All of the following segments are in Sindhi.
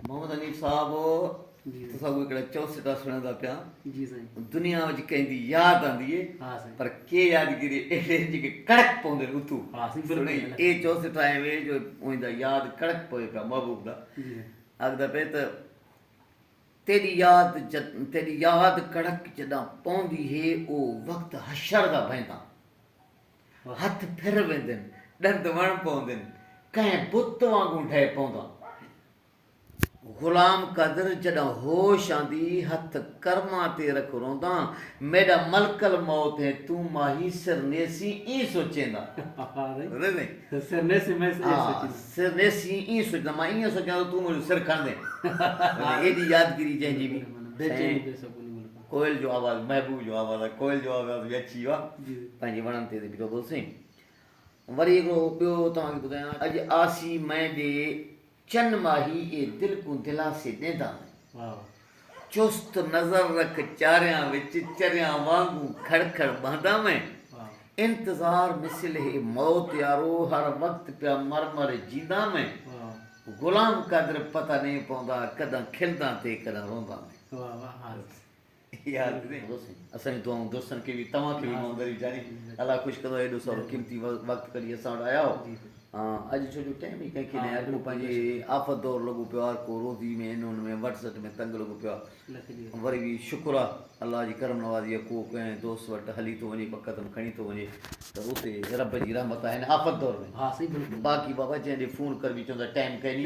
محمد حنيف صاحب تسا اهي ڪهڙا چوسٽا سڻيندا پيا دنيا وچ ڪنهن دي ياد آندي پر ڪي يادگيري اهڙي جيڪي ڪڙڪ پوندين اتو سڻي اي چوسٽا اهي وي جو اوهين دا ياد ڪڙڪ پوي پيا محبوب دا اگدا پي ته تيري ياد تيري ياد ڪڙڪ جدا پوندي هي او وقت حشر دا بهندا هٿ ڦر ويندين، ڏند وڻ پوندين، ڪنهن بت وانگون ڊهي پوندا. غلام قدر جڏهن هوش آندي، هٿ ڪرمان تي رک روندان، ميڏا ملڪ الموت هين، تون ماهي سر نيسين ائين سوچيندا. سر نيسين مان ائين سوچيان ته تون منهنجو سر کڻندين. ايڏي يادگيري جنهن جي به سائين. ڪوئل جو آواز محبوب جو آواز آهي ڪوئل جو آواز به اچي ويو آهي پنهنجي وڻن تي بيٺو اٿو سين وري هڪڙو ٻيو توهان کي ٻڌايان اڄ آسي مئي ڏي چن ماهي اي دل ڪون دلاسي ڏيندا آهن چست نظر رک چاريان وچ چريان وانگون کڙ کڙ بهندا آهن انتظار مثل هي موت يارو هر وقت پيا مر مر جيندا آهن غلام قادر پتا نئين پوندا ڪڏهن کلدان تي ڪڏهن روندا آهن. واھ واھ عارف اسان جون دعائون دوستن کي به توهان کي به مون غريب جاري الله خوش ڪندو ايڏو سارو قيمتي وقت ڪڍي اسان وٽ آيا هو اڄ ڇو جو ٽائم ئي ڪنهن کي نه اڄ مون پنهنجي آفت دور لڳو پيو آهي ڪو روزي ۾ ان ان ۾ وٽ سٽ ۾ تنگ لڳو پيو آهي وري به شڪر آهي الله جي ڪرم نوازي آهي ڪو ڪنهن دوست وٽ هلي ٿو وڃي بقدم کڻي ٿو وڃي ته اتي رب جي رحمت آهي آفت دور ۾ باقي بابا جنهن ڏي فون ڪربي چوندا ٽائم ڪئني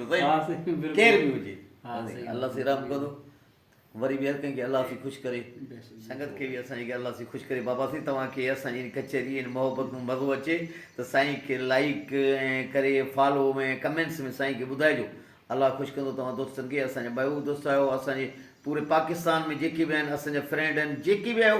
ڪير به هجي الله سائين رحم ڪندو وري به هر ڪنهن کي الله سائين خوش ڪري سنگت کي به اسان جي کي الله سائين خوش ڪري بابا سائين توهان کي اسان جي ڪچهري ۽ محبت ۾ مزو اچي ته سائين کي لائيڪ ۽ ڪري فالو ۽ ڪمينٽس ۾ سائين کي ٻڌائجو الله خوش ڪندو توهان دوستن کي اسان جا ٻيو به دوست آهيو اسان جي پوري پاڪستان ۾ جيڪي به آهن اسان جا فرينڊ آهن جيڪي به آهيو